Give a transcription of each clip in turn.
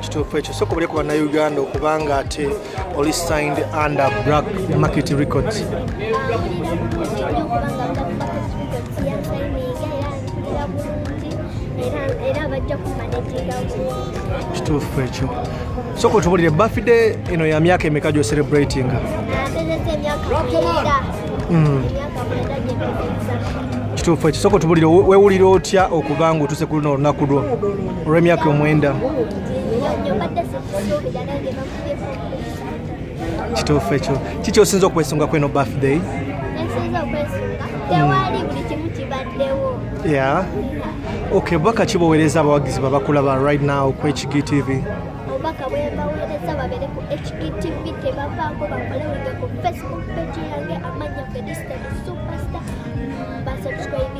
kituufu ekyo soka obuleko bannayuganda okubanga ate oli signed under black market records kituufu ekyo soka otubulire bafide eno ya myaka emeka gyo celebrating hmm. kituufu ekyo soka otubulire wewulira otya okubanga otuse ku luno olunaku lwo olw'emyaka omwenda kituufu ekyo kiki osinza okwesunga kweno birthday ya ok bubaka ki boweereza abawagizi babakulaba right now ku hgtv obubaka bwebaweereza babere ku hgtv tebavaako bakole wige ku facebook page yange amanya fedista superstar basubscribe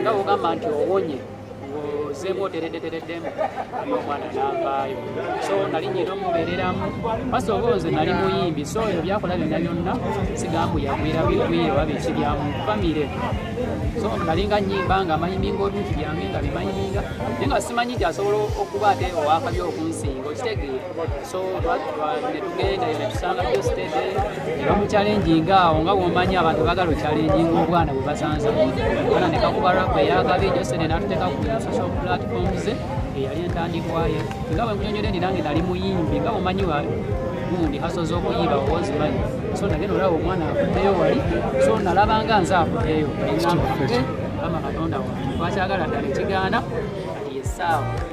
nga ogamba nti owonye ozeemu oteredetereddemu omwana navaayo so nali nyina omubeereramu basi oba nze nali muyimbi so ebyo byakola byonna byonna sigambu yagwira bigwire oba biki byamu famire so nali nga nyimba nga mayiminga obintu byange nga bimayiminga naye nga simanyi nti asobola okuba ate owakabi okunsinga okitegeera so netugenda yo netusanga byo sitede nebamucalenjinga awo nga bwomanyi abantu bagala ocalenjinga obwana bwe basanze ana nekakuba rap eyagabi ejo sitede natuteka ku social platforms eyali entandikwaye nga bwe nkunyonyole ndi nange nali muyimbi nga bwomanyi gundi haso z'okuyiba owozimanyi so nagenda olaba omwana akuteyo wali so nalabanga nze akuteyo engamba kama katonda wange twakyagala ddala ekigaana kati yesaawa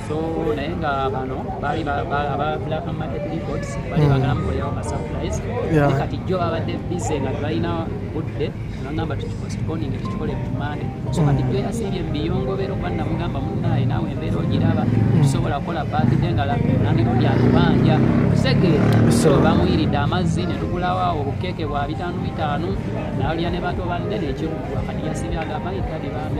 so naye nga bano baali aba black market reports baali hmm. bagala mukolerawo ka surprise naye kati jjo babadde bise nga tebalina budde nagamba tukipostponinge tukikole ku mande so hmm. kati jjo yasiibye mubiyongobero kuba namugamba munaaye naawe embeera ogiraba hmm. tusobola kukola baakide nga nandirundi atubanja kusegeera so bamuyiridde amazzi ne tugulawo awo obukeeke bwa bitaano bitaano nalya ne bato banne nekikugwa kati yasiibye agamba itadi bambi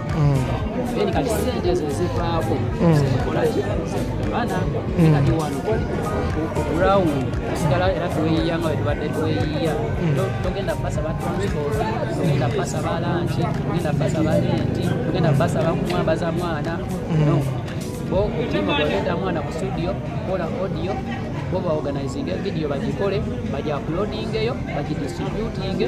then kati sente ezo ezivaako zikolaki abaana kati wano ground sigala era tweyiya nga wetubadde tweyiya togenda basaba transport togenda basaba lanki togenda basaba lenti togenda basaba kumwambaza mwana no bo otima gwagenda mwana ku studio kola audio bo baorganizinge video bagikole bagiaplodingeyo bagidistributinge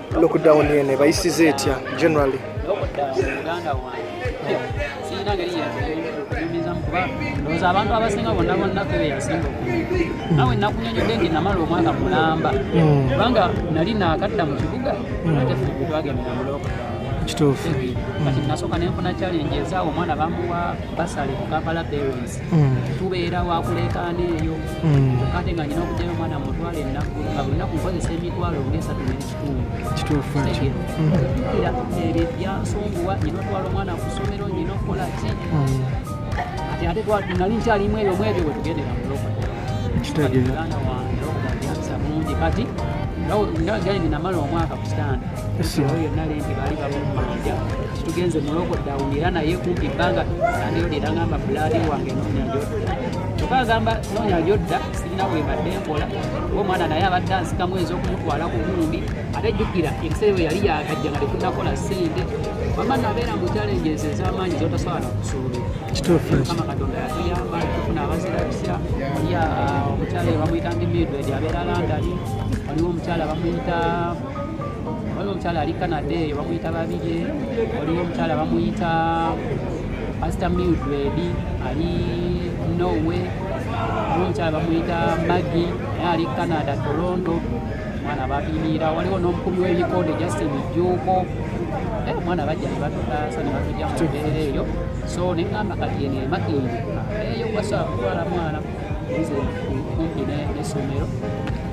lockdown eno ebayisiza etya generally ndowooza abantu abasinga bonna bonna fe beyasinga nawe nakunyonyodde nti namala omwaka mulamba hmm. kubanga nali nakadda mu kibuga hmm. ate twagendera muloko kituufu kati nasooka nenfuna challenge ezaawo omwana bamuwa basale ku kampala parents mm. tubeera wakuleekaana eyo mm. kate nga nina okujayo omwana mutwala ennaku nga buli nnaku nkozesa emitwalo ngaesatu nekitundu kituufuira mm. ebyo byansonguwa nina otwala omwana ku ssomero nina okukola ki ati ate nali nkyalimu ebyo mwebyo bwetugendera mulokuganda wange okubaasa bulungi kati nga gyalinamala omwaka ku sitanda yonna lenti baali balumanja tugenze muloko dawunira naye kumpi ebbanga naneyo lera ngamba bulaali wange nonya gyodda kyokka agamba nonya gyodda sirina bwebadde nkola oba omwana naye abadde ansikamu enza okumutwala ku nkumbi ate jjukira ebiseera bwe yali yagajja nga tekunakola sente wama nabeera mu challenge ezo ez'amaanyi zotasobola nakusuubira kituufukama katonda yatuyamba tufuna abazirabisa ya omukyala bamuyita ndi midwedi abeera landani waliwo omukyala bamuyita waliwo omukyala ali canada eyo bamuyita babirye waliwo omukyala bamuyita pasita mildred ali norway waliwo omukyala bamuyita magi naye ali canada toronto mwana bapimiira waliwo n'omukubi w'ebikonde justin juuko eh, omwana bajja ne batutaasa ne batujja mu mbeera eyo so ne ŋamba kati eno emakindi eyo gwasa kutwala mwana kumpi n'essomero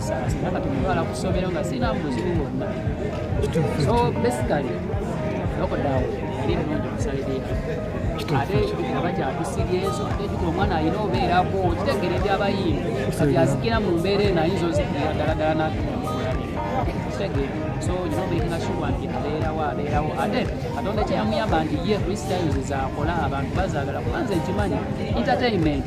saasina kati mutwala ku ssomero nga sirina mubuzibu bwonna so basically lockdown yali nnungi okusalirira ate aba kyakusiryeenso ate kiti omwana alina obeerako kitegere ebyabayimbi kati azikira mu mbeera eno ayinza ozikira ddala ddala nakitegere so olina obeekinga shuwa nti abeerawo abeerawo ate katonda kyeyamuyamba nti ye kristo ayinziza akola abantu bazaagala kubanza ekimanyi entertainment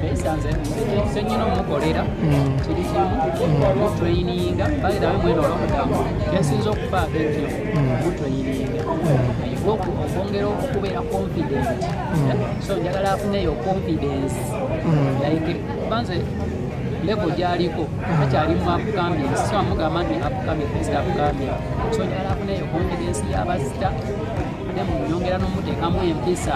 twesanze senyina omukolera mm. kiri kimu mutweyininga mm. bagera we mwena olwomugambo kyensinza okufaako ekyo mutweyininga mm. okwongera okubeera confident eh? so njagala afuneyo confidence like banze level gyaliko akyali mu upcoming so amugamba nti upcoming is upcoming so njagala afuneyo confidence yabazita ate munyongera n'omuteekamu empisa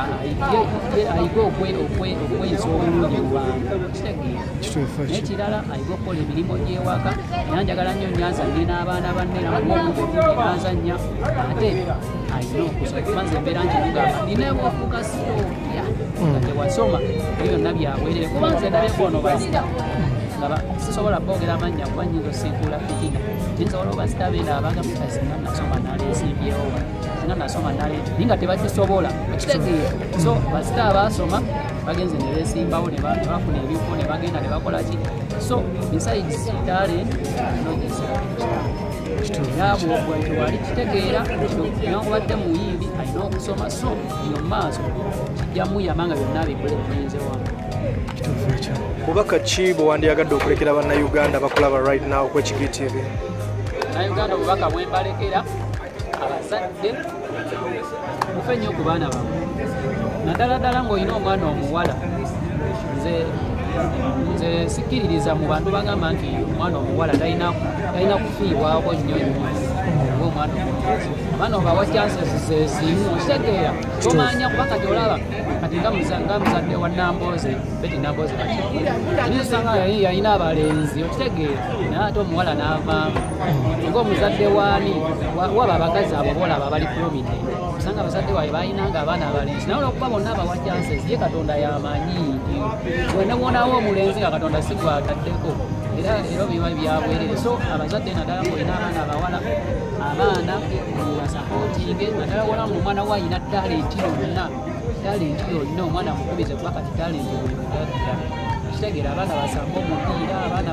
ayige okweyisa obulungi mu bantu kitegeeaye kirala ayige okukola emirimu gy'ewaka era njagala nnyo nyanzanye n'abaana banne namuanzanya ate alina okusa kuba nze embeera nti mugamba nina ewofuuka sitooya hmm. nga tewasoma ebyo byonna byaweerere kuba nze ndabeko ono bazita ngaba sisobola boogera amannya kuba nyinza osiikuula fitina naye nsobola obazita beera abagamutazina nasoma naleesimbyewo nga nasoma naleti naye nga tebakisobola okitegeera so basita abaasoma bagenze ne beesimbawo ne bafuna ebifo ne bagenda ne bakola ki so besides talent nobwewali kitegeera newakubadde muyimbi alina okusoma so eyo maaso kijjamuyamba nga byonna bikole biyinze wamu bubaka ki bwe wandiyagadde okulekera bannayuganda bakulaba right now kwekigitiibi bannayuganda obubaka bwembalekera abazadde mufe nnyo ku baana bamwe naddala ddala ng'olina omwana omuwala nze nze sikkiririza mu bantu bagamba nti omwana omuwala talina kufiibwako nnyo nnyo oba omwana omukazi abaana obawa chances zezimu okitegeera tomanya kuba kati olaba kati nga muzadde wa nambooze beti nambooze kati yalina abalenzi okitegeera naye ate omuwala n'avaamu ng'omuzadde waani waba abakazi abo boolaba abali kulumide osanga abazadde waabwe balinanga abaana abalenzi naye olwokuba bonna abawa chances ye katonda yamanyi nti wena wonawo omulenzi nga katonda si gwataddeko era era biba byabwerere so abazadde naddala ngaolina abaana abawala abaana basapootinge naddala wona nga omwana wo alina talenti yonna talenti yonna omwana mukubize kuba kati talenti buli kitegeera abaana basamba omupiira abaana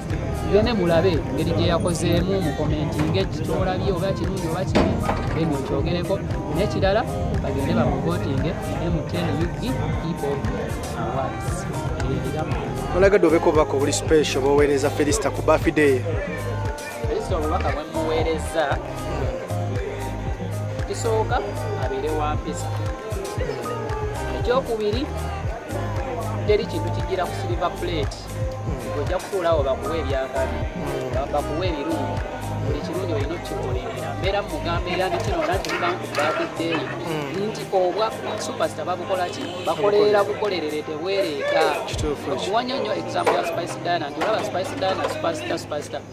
gende mulabe ngeri gye yakozeemu mukomentinga eki kyolabye oba kirungi oba kibi then okyogereko nekirala bagende bamuvotinge mtnugi people awards olagadde obeko obubaka obuli special boweereza felista ku bafideyo felista obubaka bwemuweereza ekisooka abeere wa mpisa ekyokubiri teri kintu kijira ku silver plate ojja kutuulawo bakuwa ebyakabi bakuwa ebirungi buli kirungi olina okukikolerera mbeera mugamba era nekino nakibankubakiddeeyo hmm. nti obwa supasita babukola ki bakolerera bukolerere tebwereeta okuwanya nnyo example ya spice dana nti olaba spice dana supasita supasita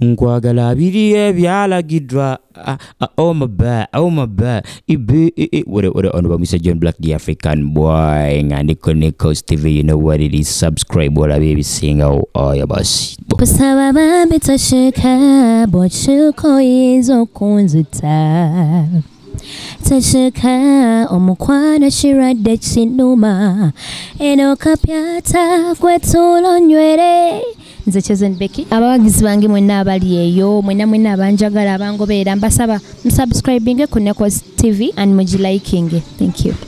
nkwagala abiri ebyalagiddwa ah, ah, omaba oh omaba oh ibi wore wore ono bamwise john black the african boy nga ndiko ne coast tv you know what it is subscribe olabe ebisingawo oyo basi kusaba bambi tosheka bwokikoyinza okunzita Taseka omukwano kirwadde kinuma eno kapyata kwetulo nywere nze chosen becky abawagizi bange mwenna abali eyo mwenna mwenna abanjagala abangobeera mbasaba musubscribinge ku necos tv and mugilikinge thank you